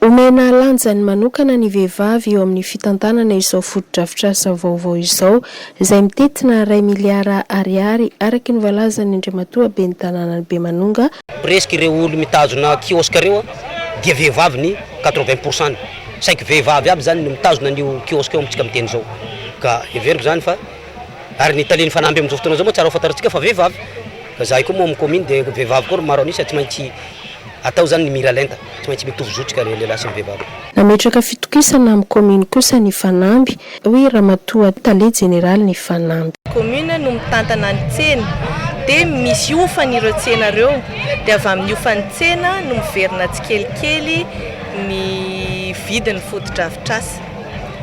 Omena lanjany manokana ny vehivavy eo amin'ny fitantanana izao fotodrafitrasa vaovao izao, izay mitentina iray miliara Ariary, araka ny voalazan'ny Andriamatoa Ben'ny Tanànan'i Bemanonga, Presque ireo olo mitazona kiosque ireo dia vehivavy ny quatre vingt pour cent-ny. Saiky vehivavy aby zany no mitazona an'io kiosque io amintsika miteny zao. Ka heveriko zany fa. ary ny talen'ny fanamby amin'izao fotoana izao moa tsara ho fantarintsika fa vehivavy, ka izahay koa moa amin'ny kaominy dia vehivavy koa ry maro an'isa, tsy maintsy atao izany ny miralenta, tsy maintsy mitovy zotroka ny lehilahy sy ny vehivavy. Nametraka fitokisana amin'ny kaominy kosa ny fanamby, hoy Ramatoa Tale Jeneralin'ny fanamby. Kaomina no mitantana ny tsena dia misy hofany ireo tsena ireo, dia avy amin'ny hofan'ny tsena no miverina tsikelikely ny vidin'ny fotodrafitrasa.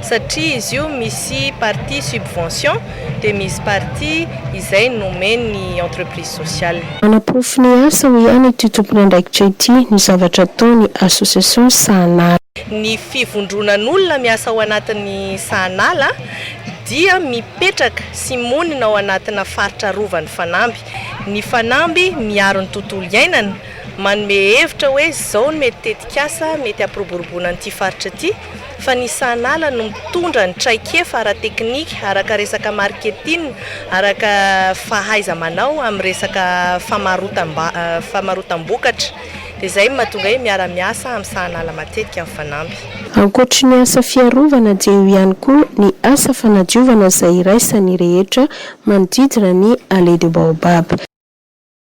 satria izy io misy partie subvention dia misy partie izay nomen'ny entreprise sociale. Manaporofo ny asany ihany ity tompon'andraikitra ity ny zavatra ataony association Sahanala. Ny fivondronan'olona miasa ao anatin'ny Sahanala dia mipetraka sy monina ao anatina faritra arovan'ny fanamby. Ny fanamby miaro ny tontolo iainana, manome hevitra hoe izao ny mety tetikasa mety hampiroboroboana an'ity faritra ity, fa ny sahanala no mitondra ny traikefa ara-teknika, araka resaka marketing, araka fahaiza-manao amin'ny resaka famarotam-bokatra. Dia izay no mahatonga hoe miara-miasa amin'ny sahanala matetika ny fanamby. Ankoatry ny asa fiarovana dia eo ihany koa ny asa fanadiovana izay iraisan'ny rehetra manodidina ny Allée de Baobab.